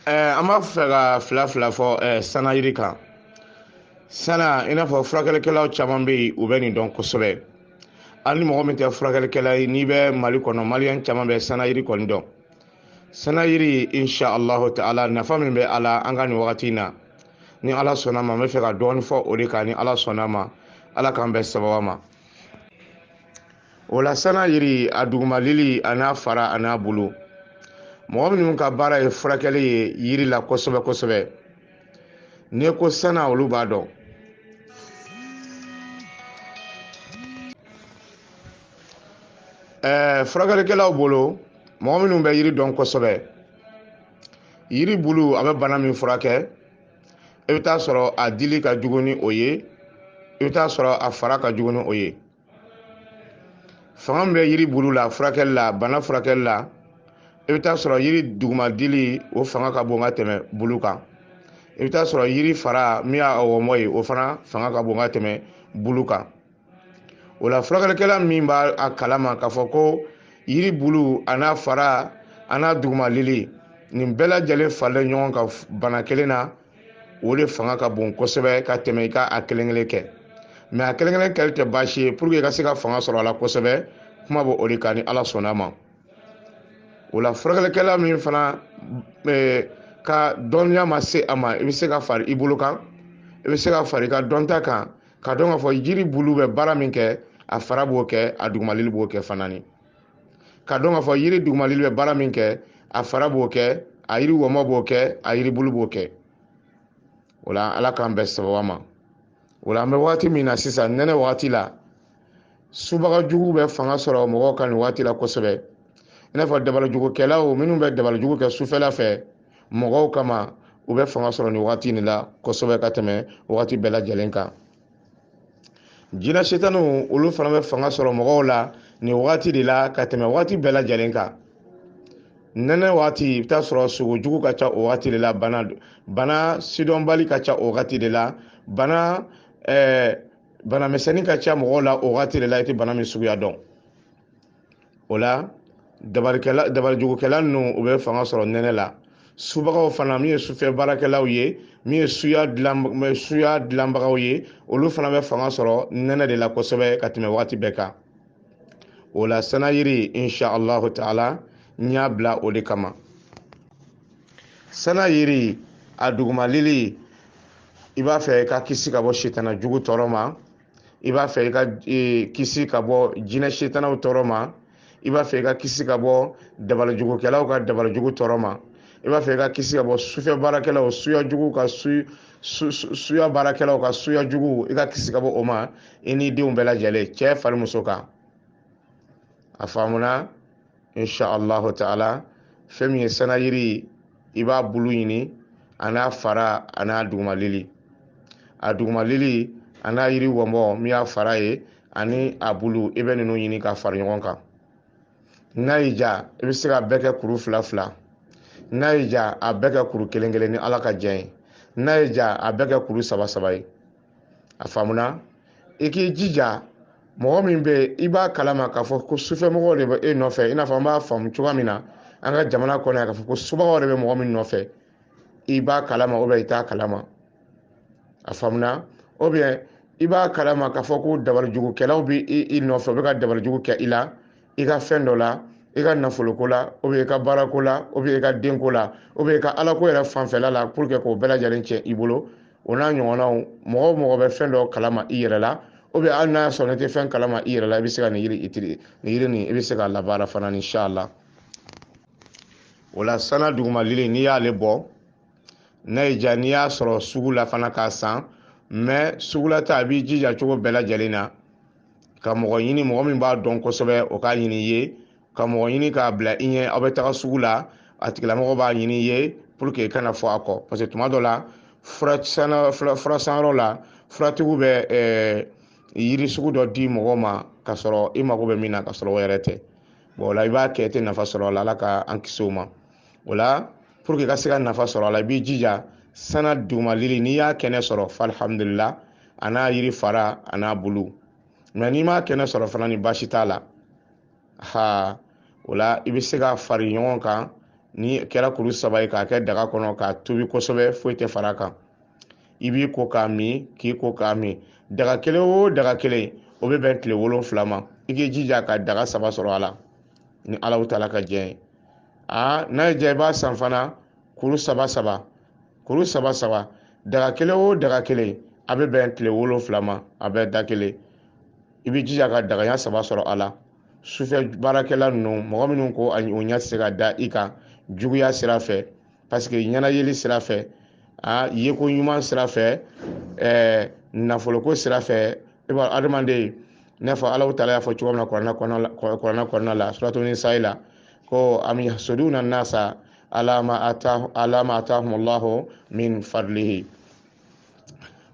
ɛɛ an b'a fɛ ka fila fila fɔ ɛɛ sana yiri kan sana i n'a fɔ furakɛlikɛlaw caman bɛ yen u bɛ nin dɔn kosɛbɛ hali ni mɔgɔ min tɛ furakɛlikɛla ye n'i bɛ mali kɔnɔ maliyɛn caman bɛ sana yiri kɔni dɔn sana yiri insha allahu ta'ala nafa min bɛ a la an ka nin wagati in na ni ala sɔnna ma n bɛ fɛ ka dɔɔni fɔ o de kan ni ala sɔnna ma ala k'an bɛn sababa ma o la sana yiri a dugumalili a n'a fara a n'a bulu mɔgɔ minnu ka baara ye furakɛli ye yiri la kosɛbɛ kosɛbɛ n'i ko sana olu b'a dɔn ɛɛ furakɛlikɛlaw bolo mɔgɔ minnu bɛ yiri dɔn kosɛbɛ yiri bulu a bɛ bana min furakɛ i bɛ taa sɔrɔ a dili ka jugu ni o ye i bɛ taa sɔrɔ a fara ka jugu ni o ye fanga min bɛ yiri bulu la furakɛli la bana furakɛli la i bɛ taa sɔrɔ yiri duguma dili o fanga ka bon ka tɛmɛ bulu kan i bɛ taa sɔrɔ yiri fara min y'a wɔmɔ ye o fana fanga ka bon ka tɛmɛ bulu kan o la furakɛlikɛla min b'a kalama k'a fɔ ko yiri bulu a n'a fara a n'a dugumalili nin bɛɛ lajɛlen faralen ɲɔgɔn kan bana kelen na o de fanga ka bon kosɛbɛ ka tɛmɛ i ka a kelen kelen kɛ mais a kelen kelen kɛli tɛ baasi ye pour que i ka se ka fanga sɔrɔ a la kosɛbɛ kuma bɛ o de kan ni ala sɔnna ma o la furakɛlikɛla min fana e, ka dɔnniya ma se a ma i bɛ se ka fara i bolo kan i bɛ se ka fara i ka dɔnta kan k'a dɔn k'a fɔ jiri bulu bɛ baara min kɛ a fara b'o kɛ a dugumalili b'o kɛ fana ni k'a dɔn k'a fɔ yiri dugumalili bɛ baara min kɛ a fara b'o kɛ a yiri wɔmɔ b'o kɛ a yiri bulu b'o kɛ o la ala k'an bɛn sababa ma o la an bɛ wagati min na sisan nɛnɛ wagati la subaga juguw bɛ fanga sɔrɔ mɔgɔw kan nin wagati la kosɛbɛ i n'a fɔ dabalijugukɛlaw minnu bɛ dabalijugu kɛ sufɛla fɛ mɔgɔw kama u bɛ fanga sɔrɔ nin wagati nin la kosɛbɛ ka tɛmɛ wagati bɛɛ lajɛlen kan jinɛ setaniw olu fana bɛ fanga sɔrɔ mɔgɔw la nin wagati de la ka tɛmɛ wagati bɛɛ lajɛlen kan nɛnɛ wagati i bɛ taa sɔrɔ sugo jugu ka ca o wagati de la bana bana sidɔnbali ka ca o wagati de la bana ɛɛ eh, bana misɛnnin ka ca mɔgɔw la o wagati de la i tɛ bana min suguya dɔn o la dabarikɛla dabarijugukɛla ninnu u bɛ fanga sɔrɔ nɛnɛ la subagaw fana min ye sufɛ baarakɛlaw ye min ye suya dilan suya dilanbagaw ye olu fana bɛ fanga sɔrɔ nɛnɛ de la kosɛbɛ ka tɛmɛ wagati bɛɛ kan o la sanayiri insha allahu taala n y'a bila o de kama sana yiri a dugumalili i b'a fɛ ka kisi ka bɔ sitana jugu tɔɔrɔ ma i b'a fɛ i ka e, kisi ka bɔ jinɛ setanaw tɔɔrɔ ma i b'a fɛ i ka kisi ka bɔ dabalajugukɛlaw ka dabalajugu tɔɔrɔ ma i b'a fɛ i ka kisi ka bɔ sufɛ baarakɛlaw suya jugu ka su suya baarakɛlaw ka suya jugu i ka kisi ka bɔ o ma i n'i denw bɛɛ lajɛlen cɛ fara muso kan a faamuna insha allahu taala fɛn min ye sanayiri i b'a bulu ɲini an'a fara an'a dugumalili a dugumalili an'a yiri wɔnbɔ min y'a fara ye ani a bulu i bɛ ninnu ɲini ka fara ɲɔgɔn kan n'a y'i diya i bɛ se k'a bɛɛ kɛ kuru fila fila n'a y'i diya a bɛɛ kɛ kuru kelen kelen ni ala ka diɲɛ ye n'a y'i diya a bɛɛ kɛ kuru saba saba ye a faamuna i k'i jija mɔgɔ min bɛ yen i b'a kalama k'a fɔ ko sufɛmɔgɔw de bɛ e nɔfɛ i n'a fɔ an b'a faamu cogoya min na an ka jamana kɔnɔ yan k'a fɔ ko subagaw de bɛ mɔgɔ min nɔfɛ i b'a kalama ou bien i t'a kalama a faamuna ou bien i b'a kalama k'a fɔ ko dabalijugukɛlaw bɛ i nɔfɛ u bɛ ka dabalijugu kɛ i la i ka fɛn dɔ la i ka nafoloko la ou bien i ka baarako la ou bien i ka denko la ou bien i ka alako yɛrɛ fanfɛla la pour que k'o bɛɛ lajɛlen tiɲɛ i bolo o n'a ɲɔgɔnnaw mɔgɔ o mɔgɔ bɛ fɛn dɔ kalama i yɛrɛ la ou bien hali n'a y'a sɔrɔ n'i tɛ fɛn kalama i yɛrɛ la i bɛ se ka nin yiri itiri nin yiri nin i bɛ se k'a labaara fana insha allah o la sana dugumalili n'i y'ale bɔ n'a y'i diya n'i y'a sɔrɔ sugu la fana k'a san mais sugu la ta a b'i jija cogo bɛɛ lajɛlen na ka mɔgɔ ɲini mɔgɔ min b'a dɔn kosɛbɛ o k'a ɲini i ye ka mɔgɔ ɲini k'a bila i ɲɛ aw bɛ taga sugu la a tigilamɔgɔ b'a ɲini i ye pour que i kana fɔ a kɔ parce que tuma dɔ la fura sanyɔrɔ la furatigiw bɛ eh, yiri sugu dɔ di mɔgɔ ma ka sɔrɔ i mago bɛ min na ka sɔrɔ o yɛrɛ tɛ bon o la i b'a kɛ i tɛ nafa sɔrɔ a la ala ka an kisi o ma o la pour que i ka se ka nafa sɔrɔ a la i b'i jija sana dugumalili n'i y'a kɛnɛ sɔrɔ fa alhamdulillah an'a yiri fara an'a bulu mais n'i m'a kɛnɛ sɔrɔ fana ni baasi t'a la ha o la i bɛ se k'a fara ɲɔgɔn kan ni kɛra kuru saba ye k'a kɛ daga kɔnɔ k'a tobi kosɛbɛ foyi tɛ fara a kan i b'i ko k'a min k'i ko k'a min daga kelen o daga kelen o bɛ bɛn tile wolonfila ma i k'i jija ka daga saba sɔrɔ a la ni allahu taala ka diɲɛ ye aa n'a y'i diya i b'a san fana kuru saba saba kuru saba saba daga kelen o daga kelen a bɛ bɛn tile wolonfila ma a bɛ da kelen i b'i jija ka daga ɲɛ saba sɔrɔ a la sufɛ baarakɛla ninnu mɔgɔ minnu ko o ɲɛ tɛ se ka da i kan juguya sira fɛ parce que ɲɛnayeli sira fɛ a yeko ɲuman sira fɛ ɛɛ nafoloko sira fɛ i b'a adamaden n'a fɔ allahu taala y'a fɔ cogo min na kuranɛ kɔnɔna la suratu nisayi la ko am yahsuduna nasa ala ma atahumullahu min fadlihi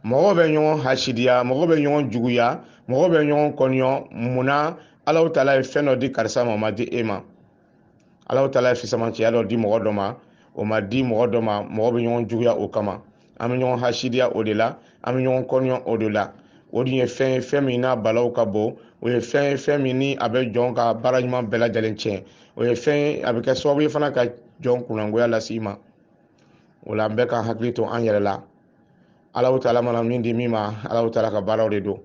mɔgɔw bɛ ɲɔgɔn hasidiya mɔgɔw bɛ ɲɔgɔn juguya mɔgɔw bɛ ɲɔgɔn kɔniyɔ mun na alahu taala ye fɛn dɔ di karisa ma o ma di e ma alahu taala ye fisamancɛya dɔ di mɔgɔ dɔ ma o ma di mɔgɔ dɔ ma mɔgɔ bɛ ɲɔgɔn juguya o kama an bɛ ɲɔgɔn hasidiya o de la an bɛ ɲɔgɔn kɔniyɔ o de la o dun ye fɛn ye fɛn min n'a balawu ka bon o ye fɛn ye fɛn min ni a bɛ jɔn ka baara ɲuman bɛɛ lajɛlen tiɲɛ o ye fɛn ye a bɛ kɛ sababu ye fana ka jɔn kunnangoya lase i ma o la an bɛɛ k'an hakili to an yɛrɛ la alahu taala mana min di min ma alahu taala ka baaraw de don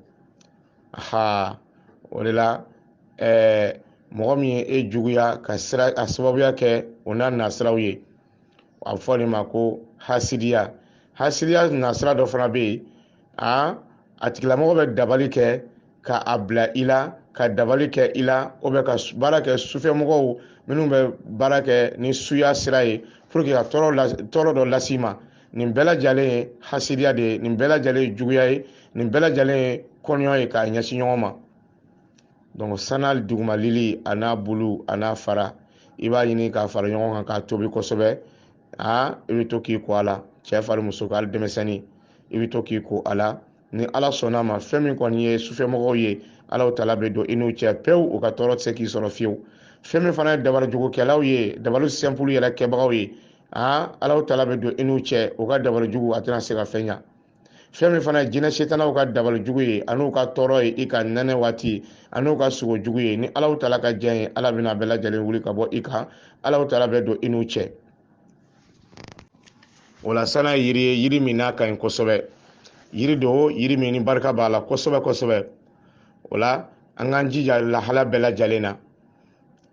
ha o de la ɛɛ mɔgɔ min ye e juguya ka sira a sababuya kɛ o n'a nasiraw ye a bɛ f'o de ma ko hasidiya hasidiya nasira dɔ fana bɛ yen a a tigilamɔgɔ bɛ dabali kɛ ka a bila i la ka dabali kɛ i la o bɛ ka baara kɛ sufɛmɔgɔw minnu bɛ baara kɛ ni suya sira ye pour que ka tɔɔrɔ dɔ lase i ma nin bɛɛ lajɛlen ye hasidiya de ye nin bɛɛ lajɛlen ye juguya ye nin bɛɛ lajɛlen ye kɔniyɔ ye k'a ɲɛsin ɲɔgɔn ma donc sana duguma lili an'a bulu an'a fara i b'a ɲini k'a fara ɲɔgɔn kan k'a tobi kosɛbɛ aa i bɛ to k'i ko a la cɛ fara muso kan hali denmisɛnnin i bɛ to k'i ko a la ni ala sɔnna ma fɛn min kɔni ye sufɛmɔgɔw ye alahu taala bɛ don i n'u cɛ pewu u ka tɔɔrɔ tɛ se k'i sɔrɔ fiyewu fɛn min fana ye dabalijugukɛlaw ye dabali simple yɛrɛ kɛbagaw ye aa alahu taala bɛ don i n'u cɛ u ka dabalijugu a tɛna se ka fɛn ɲa fɛn min fana ye jinɛ setanaw ka dabalijugu ye an'u ka tɔɔrɔ ye i ka nɛnɛ waati an'u ka sugo jugu ye ni alahu taala ka jɛn ye ala bɛn'a bɛɛ lajɛlen wuli ka bɔ i kan alahu taala bɛ don i n'u cɛ o la sana ye yiri ye yiri min n'a ka ɲi kosɛbɛ yiri don yiri min ni barika b'a la kosɛbɛ kosɛbɛ o la an k'an jija lahala bɛɛ lajɛlen na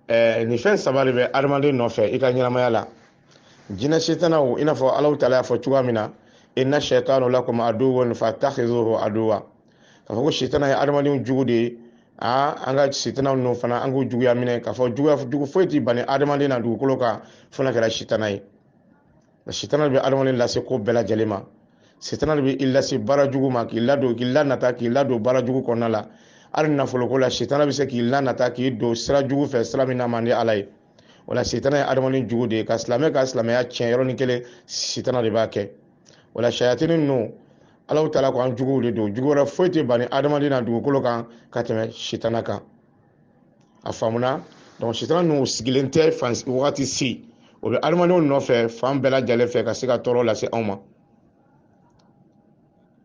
ɛɛ nin fɛn saba de bɛ adamaden nɔfɛ i ka ɲɛnamaya la jinɛ setanaw i n'a fɔ alahu taala y'a fɔ cogoya min na inna shaitanu lakum aduwwun fattakhizuhu aduwwa k'a fɔ ko sitana ye adamadenw jugu de ye aa an ka sitana ninnu fana an k'u juguya minɛ k'a fɔ juguya jugu foyi tɛ bani adamaden na dugukolo kan fo n'a kɛra sitana ye sitana de bɛ adamaden lase ko bɛɛ lajɛlen ma sitana de bɛ i lase baara jugu ma k'i ladon k'i lanata k'i ladon baara jugu kɔnɔna la hali nafoloko la sitana bɛ se k'i lanata k'i don sira jugu fɛ sira min n'a man di ala ye o la sitana ye adamaden jugu de ye ka silamɛ ka silamɛya tiɲɛ yɔrɔnin kelen sitana de b'a kɛ o la sayatini ninnu alahu taala ko an juguw de don jugu wɛrɛ foyi tɛ bani adamaden na dugukolo kan ka tɛmɛ sitana kan a faamuna donc sitana ninnu sigilen tɛ fan wagati si o bɛ adamadenw nɔfɛ fan bɛɛ lajɛlen fɛ ka se ka tɔɔrɔ lase anw ma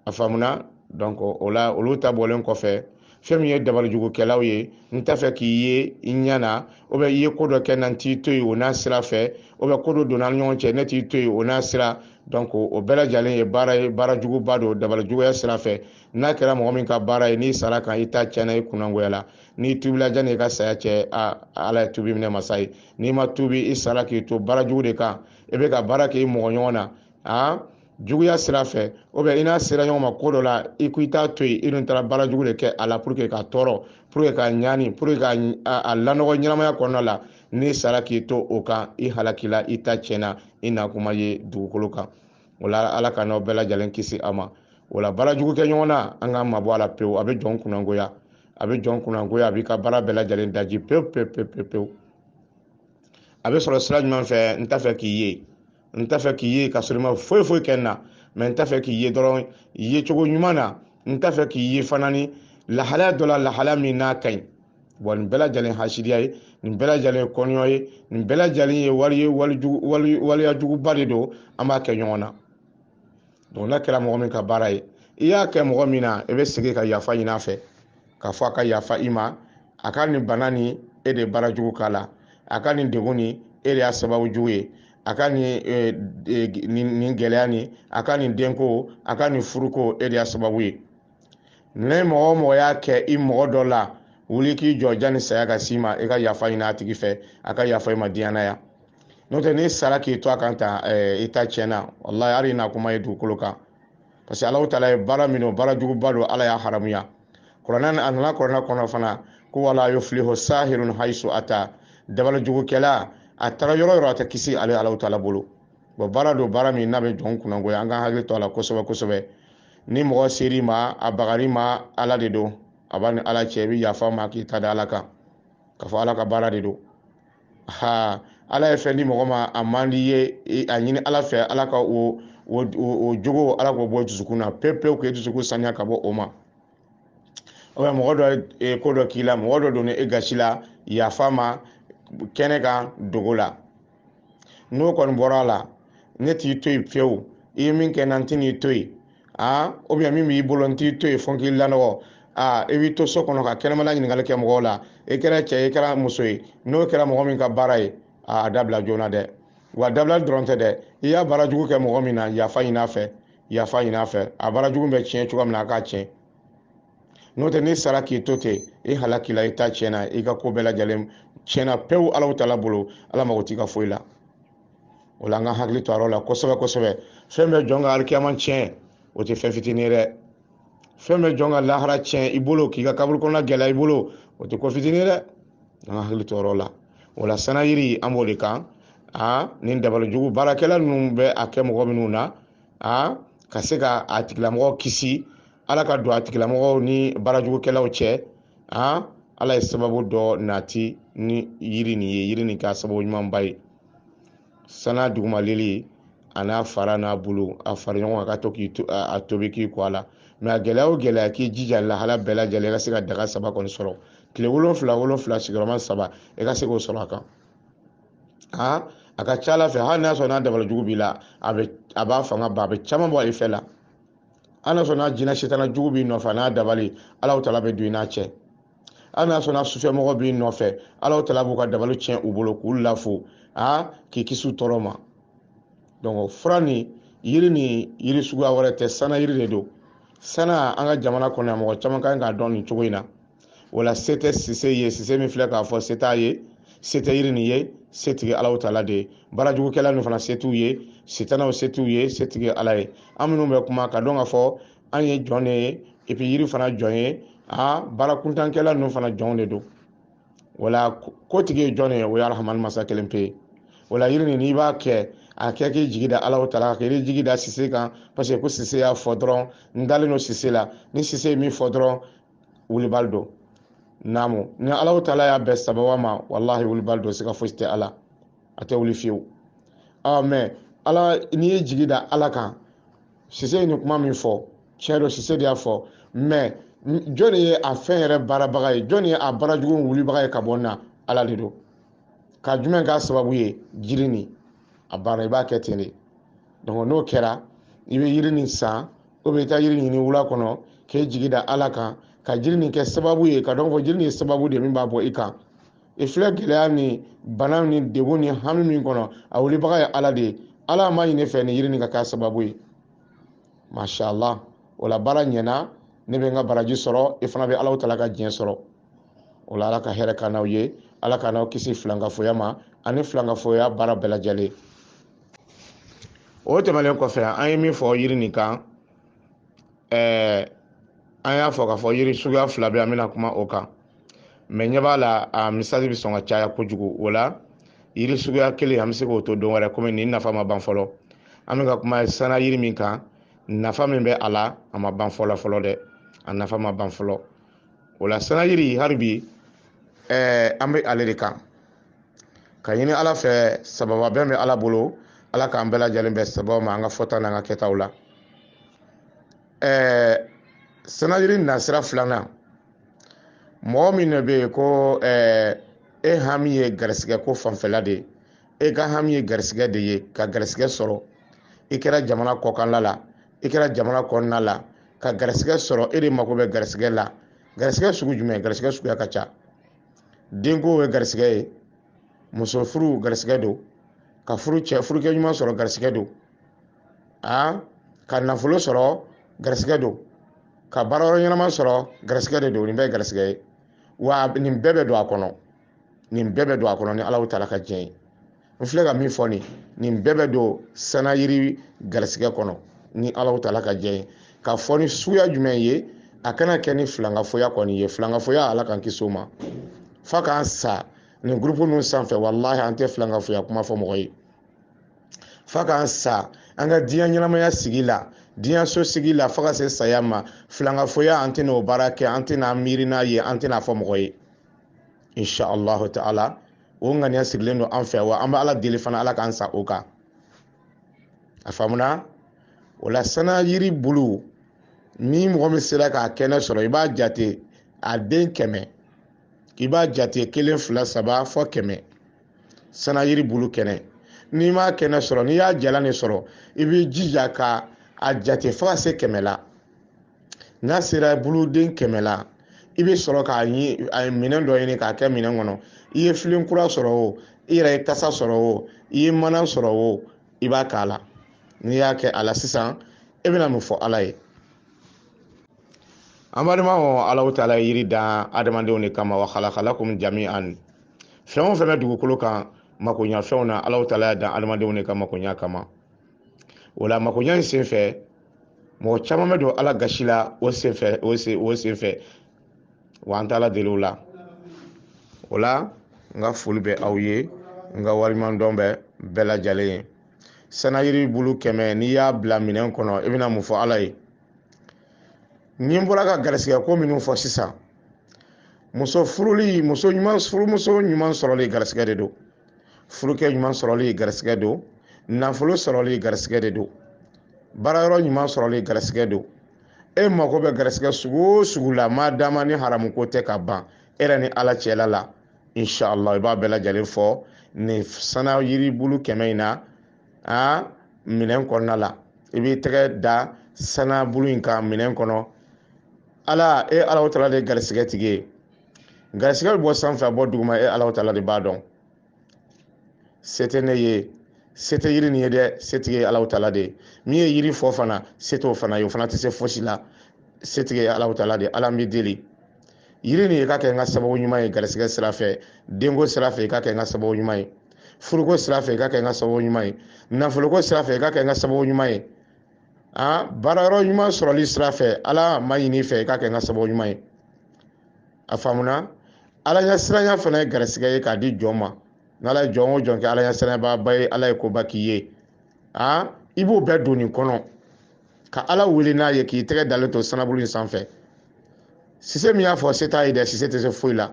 a faamuna donc o la olu ta bɔlen kɔfɛ fɛn min ye dabalijugukɛlaw ye n t'a fɛ k'i ye i ɲɛ na oubien i ye ko dɔ kɛ n na n t'i to yen o n'a sira fɛ oubien ko dɔ donna an ni ɲɔgɔn cɛ ne t'i to yen o n'a sira donc o bɛɛ lajɛlen ye baara juguba don dabalijuguya sira fɛ n'a kɛra mɔgɔ min ka baara ye n'i sara a kan i ta tiɲɛna i kunnangoya la n'i tubila janni i ka saya cɛ a ala ye tubi minɛ masa ye n'i ma tubi i sara k'i to baara jugu de kan i bɛ ka baara kɛ i mɔgɔ ɲɔgɔn na aa juguya sira fɛ oubien i n'a sera ɲɔgɔn ma ko dɔ la i ko i t'a to yen i dun taara baara jugu de kɛ a la pour que k'a tɔɔrɔ pour que k'a ɲani pour que ka a lanɔgɔ ɲɛnamaya kɔnɔna la n'i sara k'i to o kan i halakila i ta tiɲɛna i na kuma ye dugukolo kan o la ala k'an n'aw bɛɛ lajɛlen kisi a ma o la baara jugu kɛ ɲɔgɔn na an k'an mabɔ a la pewu a bɛ jɔn kunnangoya a bɛ jɔn kunnangoya a b'i ka baara bɛɛ lajɛlen daji pewu pewu pewu pewu a bɛ sɔrɔ sira jumɛn fɛ n t'a fɛ k'i ye n t'a fɛ k'i ye ka sɔrɔ i ma foyi foyi kɛ n na mais n t'a fɛ k'i ye dɔrɔn ye cogo ɲuman na n t'a fɛ k'i ye fana ni lahalaya dɔ la lahalaya min n'a ka ɲi bon nin bɛɛ lajɛlen hasidiya ye nin bɛɛ lajɛlen kɔniya ye nin bɛɛ lajɛlen ye wali waliya juguba de don an b'a kɛ ɲɔgɔn na donc n'a kɛra mɔgɔ min ka baara ye i y'a kɛ mɔgɔ min na i bɛ segin ka yafa ɲin'a fɛ k'a fɔ a ka yafa i ma a ka nin bana nin e de baara jugu k'a la a ka nin degun nin e de y'a sababu jugu ye a ka nin e, e, nin gɛlɛya nin a ka nin denko a ka nin furuko e de y'a sababu ye ni mɔgɔ o mɔgɔ y'a kɛ i mɔgɔ dɔ la wuli k'i jɔ janni saya ka s'i ma i ka yafa ɲini a tigi fɛ a ka yafa i ma diɲɛ na yan n'o tɛ n'i sara k'i to a kan tan eh, i ta tiɲɛna walahi hali i na kuma ye dugukolo kan parce que alahu taala ye baara min don baara juguba don ala y'a haramuya kuranɛ a nana kuranɛ kɔnɔ fana ko wala yuflihu sahirun haisu ata dabali jugukɛla a taara yɔrɔ o yɔrɔ a tɛ kisi ale alahu taala bolo bon baara don baara min n'a bɛ jɔn kunnangoya an ka hakili to a la kosɛbɛ kosɛbɛ ni mɔgɔ ser'i ma a bagar'i ma ala de don a b'a ni ala cɛ i bɛ yafa a ma k'i ta da ala kan k'a fɔ ala ka baara de don ha ala ye fɛn di mɔgɔ ma a man di i ye a ɲini ala fɛ ala ka o o jogo ala k'o bɔ dusukun na pewu pewu k'e dusukun saniya ka bɔ o ma oubien mɔgɔ dɔ ye ko dɔ k'i la mɔgɔ dɔ donna e gasi la yafa a ma kɛnɛ kan dogo la n'o kɔni bɔra a la ne t'i to yen fiyewu i ye min kɛ n na n tɛ n'i to yen aa oubien min b'i bolo n t'i to yen fo n k'i lanɔgɔ aa i b'i to so kɔnɔ ka kɛnɛmana ɲininkali kɛ mɔgɔw la i kɛra cɛ ye i kɛra muso ye n'o kɛra mɔgɔ min ka baara ye aa a dabila joona dɛ wa dabila dɔrɔn tɛ dɛ i y'a baara jugu kɛ mɔgɔ min na yafa ɲin'a fɛ yafa ɲin'a fɛ a baara jugu bɛ tiɲɛ cogoya min na a k'a tiɲɛ n'o tɛ n'i sara k'i to ten i halakila i ta tiɲɛna i ka ko bɛɛ lajɛlen tiɲɛna pewu alahu taala bolo ala mago t'i ka foyi la o la an ka hakili to a yɔrɔ la kosɛbɛ kosɛbɛ fɛn bɛ jɔn ka alikiyama tiɲɛ o tɛ fɛn fitinin ye dɛ fɛn bɛ jɔn ka lahara tiɲɛ i bolo k'i ka kaburu kɔnɔna gɛlɛya i bolo o tɛ ko fitinin ye dɛ an ka hakili to o yɔrɔ la o la sana yiri an b'o de kan aa nin dabalijugu baarakɛla ninnu bɛ a kɛ mɔgɔ minnu na aa ka se ka a tigilamɔgɔ kisi ala ka don a tigilamɔgɔw ni baarajugukɛlaw cɛ a ala ye sababu dɔ nati ni yiri nin ye yiri nin ka sababu ɲumanba ye sana dugumalili a n'a fara n'a bolo a fara ɲɔgɔn kan ka to k'a tobi k'i ko a la mais a gɛlɛya o gɛlɛya k'i jija lahala bɛɛ lajɛlen i ka se ka daga saba kɔni sɔrɔ tile wolonfila wolonfila sigiyɔrɔma saba i ka se k'o sɔrɔ a kan a a ka ca ala fɛ hali n'a sɔrɔ n'a dabali jugu b'i la a b'a fanga ban a bɛ caman bɔ i fɛ la hali n'a sɔrɔ n'a jinɛ sitana jugu b'i nɔfɛ n'a dabali alahu taala bɛ don i n'a cɛ hali n'a sɔrɔ n'a sufɛmɔgɔ b'i nɔfɛ alahu taala b'u ka dabali tiɲɛ u bolo k'u lafu a k'i kisi u tɔɔrɔ ma donc fura nin yiri nin yiri suguya wɛrɛ tɛ sana yiri de don sana an ka jamana kɔnɔ yan mɔgɔ caman ka kan k'a dɔn nin cogo in na o la se tɛ sise ye sise min filɛ k'a fɔ se t'a ye se tɛ yiri nin ye setigi alahu taala de ye baarajugukɛla ninnu fana se t'u ye sitanaw se t'u ye setigi ala ye an minnu bɛ kuma k'a dɔn k'a fɔ an ye jɔn de ye et puis yiri fana jɔn ye a baarakuntankɛla ninnu fana jɔnw de don o la kotigi ye jɔn de ye o ye arahamani masa kelen pe ye o la yiri nin n'i b'a kɛ a kɛ k'i jigi da alahu taala kan kan'i jigi da sise kan parce que ko sise y'a fɔ dɔrɔn n dalen don sise la ni sise ye min fɔ dɔrɔn wulibali don naamu ni alahu taala y'a bɛn sababu ma walahi wulibali don siga fosi tɛ a la a tɛ wuli fiyewu ɔ mais ala n'i y'i jigi da ala kan sise ye nin kuma min fɔ tiɲɛ don sise de y'a fɔ mais jɔn de ye a fɛn yɛrɛ baarabaga ye jɔn de ye a baarajugu wulibaga ye ka bɔ na ala de don ka jumɛn k'a sababu ye jiri nin a banna i b'a kɛ ten de donc n'o kɛra i bɛ yiri nin san ou bien i taa yiri ɲini wula kɔnɔ k'i jigi da ala kan ka jiri nin kɛ sababu ye k'a dɔn fɔ jiri nin ye sababu de min b'a bɔ i kan i filɛ gɛlɛya ni bana ni degun ni hami min kɔnɔ a wulibaga ye ala de ye ala maɲini fɛ ni yiri nin ka k'a sababu ye mashallah o la baara ɲɛna ne bɛ n ka baraji sɔrɔ i fana bɛ alahu taala ka diɲɛ sɔrɔ o la ala ka hɛrɛ k'an n'aw ye ala k'an n'aw kisi filankafoya ma ani filankafoya baara bɛɛ lajɛlen o tɛmɛnen kɔfɛ an ye min fɔ yiri nin kan ɛɛ an y'a fɔ k'a fɔ yiri suguya fila bɛ an bɛna kuma o kan mɛ ɲɛ b'a la a misali bɛ sɔn ka caya kojugu o la yiri suguya kelen an bɛ se k'o to don wɛrɛ komi nin nafa ma ban fɔlɔ an bɛ ka kuma sana yiri min kan nafa min bɛ a la a ma ban fɔlɔ fɔlɔ dɛ a nafa ma ban fɔlɔ o la sanayiri hali bi ɛɛ an bɛ ale de kan ka ɲini ala fɛ sababa bɛn bɛ ala bolo ala k'an bɛɛ lajɛlen bɛn sababa ma an ka fɔta n'an ka kɛtaw la ɛɛ sanayiri nasira filanan mɔgɔ min de bɛ yen ko ɛɛ e hami ye garisigɛ ko fanfɛla de ye e ka hami ye garisigɛ de ye ka garisigɛ sɔrɔ i kɛra jamana kɔkanla la i kɛra jamana kɔnɔna la ka garisɛgɛ sɔrɔ e de mako bɛ garisɛgɛ la garisɛgɛ sugu jumɛn garisɛgɛ suguya ka ca denko ye garisɛgɛ ye muso furu garisɛgɛ don ka furu cɛ furukɛ ɲuman sɔrɔ garisɛgɛ don a ka nafolo sɔrɔ garisɛgɛ don ka baara yɔrɔ ɲɛnama sɔrɔ garisɛgɛ de don nin bɛɛ ye garisɛgɛ ye wa nin bɛɛ bɛ don a kɔnɔ nin bɛɛ bɛ don a kɔnɔ ni ala taala ka diɲɛ ye n filɛ ka min fɔ nin nin bɛɛ bɛ don sanayiri garisigɛ kɔnɔ ni alahu taala ka diɲɛ ye k'a fɔ ni suguya jumɛn ye a kana kɛ ni filankafoya kɔni ye filankafoya ala k'an kisi o ma fa k'an sa nin gurupu ninnu sanfɛ walahi an tɛ filankafoya kuma fɔ mɔgɔ ye fa k'an sa an ka diɲɛ ɲɛnamaya sigi la diɲɛ so sigi la fo ka se saya ma filankafoya an tɛna o baara kɛ an tɛna miiri n'a ye an tɛn'a fɔ mɔgɔ ye insha allahu ta'ala o ŋaniya sigilen don an fɛ wa an bɛ ala deli fana ala k'an sa o kan a faamuna o la sana yiri bulu ni mɔgɔ min sera k'a kɛnɛ sɔrɔ i b'a jate a den kɛmɛ i b'a jate kelen fila saba fo kɛmɛ sana yiri bulu kɛnɛ n'i m'a kɛnɛ sɔrɔ n'i y'a jalan de sɔrɔ i b'i jija ka a jate fo ka se kɛmɛ la n'a sera buluden kɛmɛ la i bɛ sɔrɔ k'a ɲi a ye minɛn dɔ ɲini k'a kɛ minɛn kɔnɔ i ye filen kura sɔrɔ o i yɛrɛ ye tasa sɔrɔ o i ye mana sɔrɔ o i b'a k'a la n'i y'a kɛ a la sisan e bɛna mun fɔ ala ye an balimaw alahu taala ye yiri dan adamadenw de kama wa khalaqa lakum jami'an fɛn o fɛn bɛ dugukolo kan makoɲafɛnw na alahu taala y'a dan adamadenw de ka makoɲa kama o la makoɲa in senfɛ mɔgɔ caman bɛ don ala gasi la o senfɛ o sen o senfɛ wa an t'ala deli o la o la n ka foli bɛ aw ye n ka waleɲumandɔn bɛ bɛɛ lajɛlen ye sanayiri bulu kɛmɛ n'i y'a bila minɛn kɔnɔ i bɛna mun fɔ ala ye ni n bɔra ka garisigɛ ko minnu fɔ sisan muso furuli muso ɲuman furumuso ɲuman sɔrɔli garisigɛ de don furukɛ ɲuman sɔrɔli garisigɛ don nafolo sɔrɔli garisigɛ de don baara yɔrɔ ɲuman sɔrɔli garisigɛ don e mago bɛ garisigɛ sugu o sugu la maa dama ni haramu ko tɛ ka ban e yɛrɛ ni ala cɛla la inshallah i b'a bɛɛ lajɛlen fɔ nin sana yiribulu kɛmɛ in na a minɛn kɔnɔna la i b'i tɛgɛ da sana bulu in kan minɛn kɔnɔ ala e alahu tala de garisigɛ tigi ye garisigɛ bɛ bɔ sanfɛ a bɔ duguma e ala tala de b'a dɔn se tɛ ne ye se tɛ yiri nin ye dɛ setigi ye ala tala de ye min ye yiri fɔ fana se t'o fana ye o fana tɛ se fosi la setigi ye ala tala de ala n b'i deli yiri nin i k'a kɛ n ka sababu ɲuman ye garisigɛ sira fɛ denko sira fɛ i k'a kɛ n ka sababu ɲuman ye furuko sira fɛ i k'a kɛ n ka sababu ɲuman ye nafoloko sira fɛ i k'a kɛ n ka sababu ɲuman ye aa baara yɔrɔ ɲuman sɔrɔli sira fɛ ala n b'a ɲini i fɛ i k'a kɛ n ka sababu ɲuman ye a faamuna ala ɲɛ siranya fana ye garisigɛ ye k'a di jɔn ma n'ala ye jɔn o jɔn kɛ ala ɲɛ siranyabaaba ye ala ye koba k'i ye aa i b'o bɛɛ don nin kɔnɔ ka ala wele n'a ye k'i tɛgɛ dalen to sanabulu in sanfɛ sise min y'a fɔ se t'a ye dɛ sise tɛ se foyi la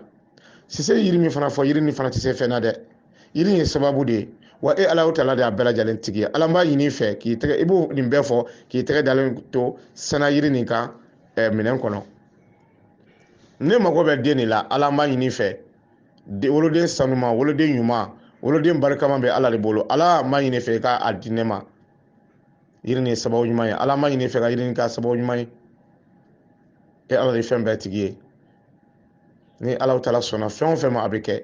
sise ye yiri min fana fɔ yiri nin fana tɛ se fɛn na dɛ yiri ye sababu de ye wa e ala tala de y'a bɛɛ lajɛlen tigi ye ala n b'a ɲini i fɛ k'i tɛgɛ i b'o nin bɛɛ fɔ k'i tɛgɛ dalen to sana yiri nin kan eh, minɛn kɔnɔ ne mago bɛ den de la ala n b'a ɲini i fɛ woloden sanuma woloden ɲuman woloden barikama bɛ ala de bolo ala n b'a ɲini i fɛ i k'a di ne ma yiri nin ye sababu ɲuman ye ala n b'a ɲini i fɛ ka yiri nin k'a sababu ɲuman ye e ala de ye fɛn bɛɛ tigi ye ni ala tala sɔnna fɛn o fɛn ma a bɛ kɛ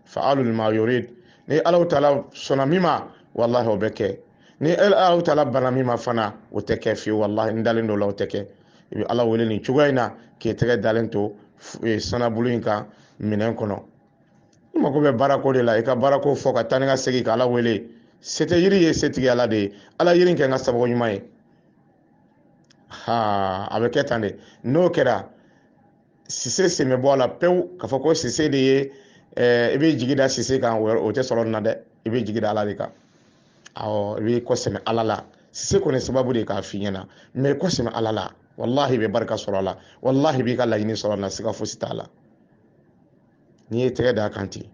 fa'alu lima yurid ni Allahu taala sɔnna min ma walahi o bɛ kɛ ni Allahu taala banna min ma fana o tɛ kɛ fiyewu walahi n dalen don o la o tɛ kɛ i bɛ Ala wele nin cogoya in na k'i tɛgɛ dalen to e, sanabulu in kan minɛn kɔnɔ i mago bɛ baarako de la i ka baarako fɔ ka taa ni ka segin ka Ala wele se tɛ yiri ye setigi Ala de ye Ala yiri kɛ n ka sababu ɲuman ye haa a bɛ kɛ tan de n'o kɛra sise sen bɛ bɔ a la pewu k'a fɔ ko sise de ye i b'i jigi da sise kan o tɛ sɔrɔ nin na dɛ i b'i jigi da ala de kan awɔ i b'i kɔ sɛmɛ ala la sise kɔni sababu de k'a f'i ɲɛna mɛ i kɔ sɛmɛ ala la walahi i bɛ barika sɔrɔ a la walahi i b'i ka laɲini sɔrɔ a la siga fosi t'a la n'i y'i tɛgɛ d'a kan ten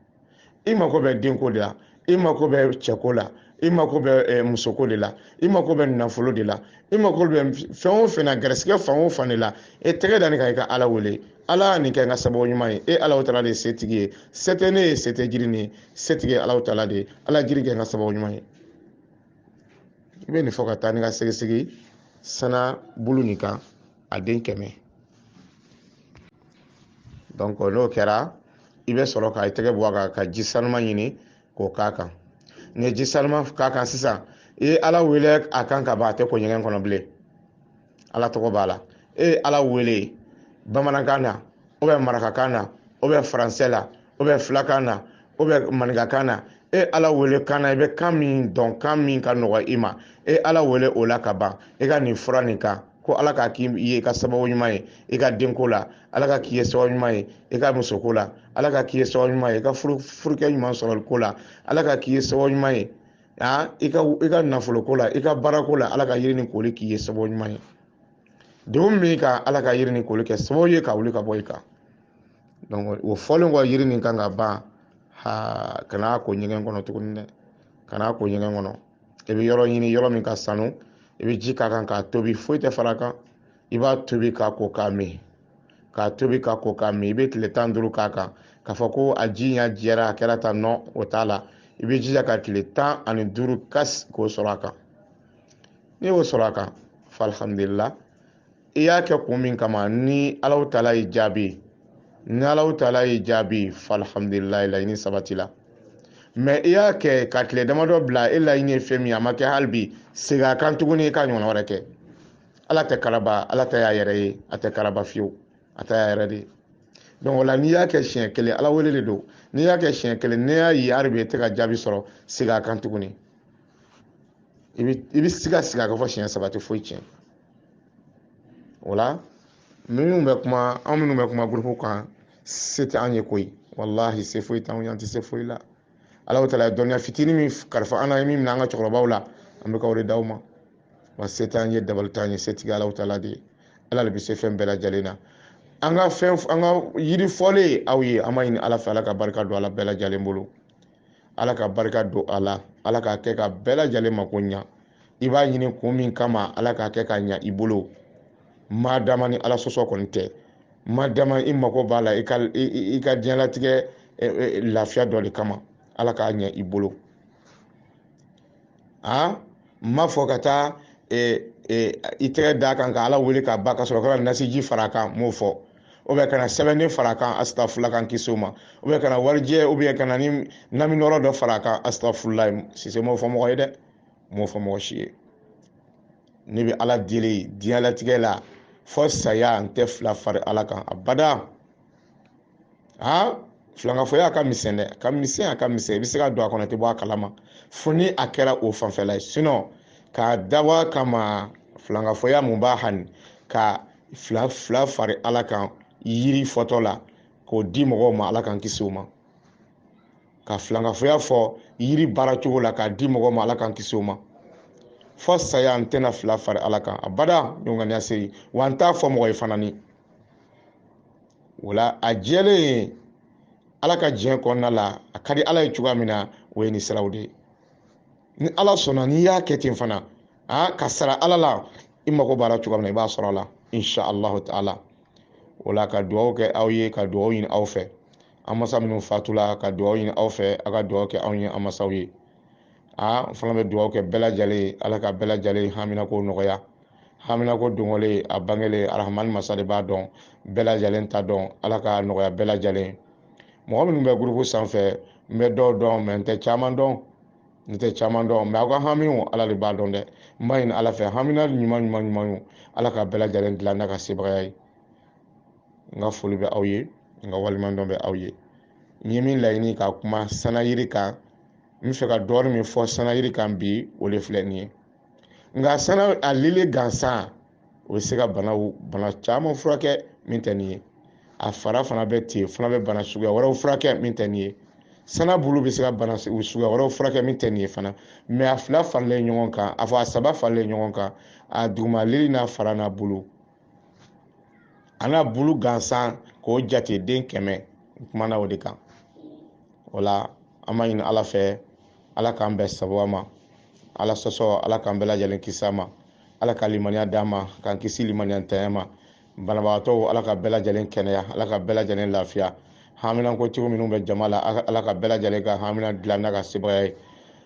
i mako bɛ denko de la i mako bɛ cɛko la i mako bɛ eh, musoko de la i mako bɛ nafolo de la i mako bɛ fɛn o fɛn na garisigɛ fan o fan de la e tɛgɛ da nin kan i ka ala wele ala nin kɛ n ka sababu ɲuman ye e alahu taala de ye setigi ye se tɛ ne ye se tɛ jiri nin ye setigi ye alahu taala de ye ala jiri kɛ n ka sababu ɲuman ye i bɛ nin fɔ ka taa ni ka segin segin sana bulu nin kan a den kɛmɛ donc n'o kɛra i bɛ sɔrɔ ka i tɛgɛ bɔ a kan ka ji sanuma ɲini k'o k'a kan n'i ye ji sanuma k'a kan sisan i ye ala wele a kan ka ban a tɛ ko ɲɛgɛn kɔnɔ bilen ala tɔgɔ b'a la e ye ala wele bamanankan na ou bien marakakan na ou bien faransɛ la ou bien filakan na ou bien maninkakan na e ala wele kan na i bɛ kan min dɔn kan min ka nɔgɔ i ma e ala wele o la ka ban i ka nin fura nin kan ko ala k'a k'i ye i ka sababu ɲuman ye i ka denko la ala k'a k'i ye sababu ɲuman ye i ka musoko la ala k'a k'i ye sababu ɲuman ye i ka furukɛ ɲuman sɔrɔli ko la ala k'a k'i ye sababu ɲuman ye aa i ka i ka nafoloko la i ka baarako la ala ka yiri nin koli k'i ye sababu ɲuman ye degun min ka ala ka yiri nin koli kɛ sababu ye ka wuli ka bɔ i kan o fɔlen kɔ yiri nin kan ka ban a kana ko ɲɛgɛn kɔnɔ tuguni dɛ kana ko ɲɛgɛn kɔnɔ i bɛ yɔrɔ ɲini yɔrɔ min ka sanu i bɛ ji k'a kan k'a tobi foyi tɛ fara a kan i b'a tobi k'a ko k'a min k'a tobi k'a ko k'a min i bɛ tile tan duuru k'a kan k'a fɔ ko a ji ɲa jɛra a kɛra tan non o t'a la i bɛ jija ka tile tan ani duuru ka se k'o sɔrɔ a kan n'i y'o sɔrɔ a kan fa alhamdulillah i y'a kɛ kun min kama ni alahu taala y'i jaabi ni alahu taala y'i jaabi fa alhamdulillah laɲini sabatila mais i y'a kɛ ka tile damadɔ bila e laɲini ye fɛn min a ma kɛ hali bi segin a kan tuguni i ka ɲɔgɔn wɛrɛ kɛ ala tɛ karaba ala ta y'a yɛrɛ ye a tɛ karaba fiyewu a ta y'a yɛrɛ de ye donc o la n'i y'a kɛ siɲɛ kelen ala wele de don n'i y'a kɛ siɲɛ kelen n'i y'a ye hali bi e tɛ ka jaabi sɔrɔ segin a kan tuguni i bɛ i bɛ segin segin a kan fo siɲɛ saba tɛ foyi tiɲɛ o la minnu bɛ kuma anw minnu bɛ kuma gurupu kan se tɛ an ye koyi walahi se foyi t'anw ye an tɛ se foyi la ala taala ye dɔnniya fitinin min kalifa an na an ye min minɛ an ka cɛkɔrɔbaw la an bɛ ka o de d'aw ma wa se t'an ye dabali t'an ye setigi alahu taala de ye ala de bɛ se fɛn bɛɛ lajɛlen na an ka fɛn an ka yiri fɔlen aw ye an b'a ɲini ala fɛ ala ka barika don a la bɛɛ lajɛlen bolo ala ka barika don a la ala k'a kɛ ka bɛɛ lajɛlen mako ɲa i b'a ɲini kun min kama ala k'a kɛ k'a ɲa i bolo maa dama ni ala sɔsɔ kɔni tɛ maa dama i mako b'a la i ka i ka diɲɛlatigɛ lafiya dɔ de kama ala k'a ɲa i bolo a n ma fɔ ka taa i tɛgɛ d'a kan ka ala wele k'a ban ka sɔrɔ ka nasiji fara a kan m'o fɔ ou bien ka na sɛbɛnden fara a kan asitafurula k'an kisi o ma ou bien ka na warijɛ ou bien ka na ni naminɔrɔ dɔ fara a kan asitafurulayi sise m'o fɔ mɔgɔ ye dɛ m'o fɔ mɔgɔ si ye ne bɛ ala deli diɲɛlatigɛ la fo saya n tɛ fila fari ala kan abada aa filankafoya a ka misɛn dɛ a ka misɛn a ka misɛn i bɛ se ka don a kɔnɔ i tɛ bɔ a kalama fo ni a kɛra o fanfɛla ye sinɔn k'a dabɔ a kama filankafoya mun b'a hani ka fila fari ala kan yiri fɔtɔ la k'o di mɔgɔw ma ala k'an kisi o ma ka filankafoya fɔ yiri baara cogo la k'a di mɔgɔw ma ala k'an kisi o ma fo saya n tɛna fila fari ala kan abada ɲɔgɔnganiya se wa n t'a fɔ mɔgɔ ye fana ni o la a jɛlen ye ala ka diɲɛ kɔnɔna la a ka di ala ye cogoya min na o ye nin siraw de ye ni ala sɔnna n'i y'a kɛ ten fana a k'a sara ala la i mago b'a la cogoya min na i b'a sɔrɔ a la insha allahu taala o la ka dugawu kɛ aw ye ka dugawu ɲini aw fɛ an masa minnu fatula ka dugawu ɲini aw fɛ a ka dugawu kɛ anw ye an masaw ye aa n fana bɛ dugawu kɛ bɛɛ lajɛlen ye ala ka bɛɛ lajɛlen haminanko nɔgɔya haminanko dogolen a bangelen arahamani masa de b'a dɔn bɛɛ lajɛlen ta dɔn ala k'a nɔgɔya bɛɛ lajɛlen ye mɔgɔ minnu bɛ gurupu sanfɛ n bɛ dɔw dɔn mɛ n tɛ caman dɔn n tɛ caman dɔn mɛ aw ka hamiw ala de b'a dɔn dɛ n b'a ɲini ala fɛ hamina ɲuman ɲuman ɲuman ye ala ka bɛɛ lajɛlen dilan n'a ka sebagaya ye n ka foli bɛ aw ye n ka waleɲumandɔn bɛ aw ye n ye min laɲini ka kuma sanayiri kan n b'a fɛ ka dɔɔnin min fɔ sanayiri kan bi o de filɛ nin ye nka sana a lili gansan o bɛ se ka banaw bana caman furakɛ min tɛ nin ye a fara fana bɛ ten fana bɛ bana suguya wɛrɛw furakɛ min tɛ nin ye sana bulu bɛ se ka bana suguya wɛrɛw furakɛ min tɛ nin ye fana mɛ a fila faralen ɲɔgɔn kan a fɔ a saba faralen ɲɔgɔn kan a duguma lili n'a fara n'a bulu a n'a bulu gansan k'o jate den kɛmɛ n kumana o de kan o la an b'a ɲini ala fɛ ala k'an bɛɛ sababu ma ala sɔsɔ ala k'an bɛɛ lajɛlen kisi a ma ala ka limaniya d'an ma k'an kisi limaniyantanya ma banabagatɔw ala ka bɛɛ lajɛlen kɛnɛya ala ka bɛɛ lajɛlen lafiya haminanko cogo minnu bɛ jama la ala ka bɛɛ lajɛlen ka hamina dilan n'a ka sebaaya ye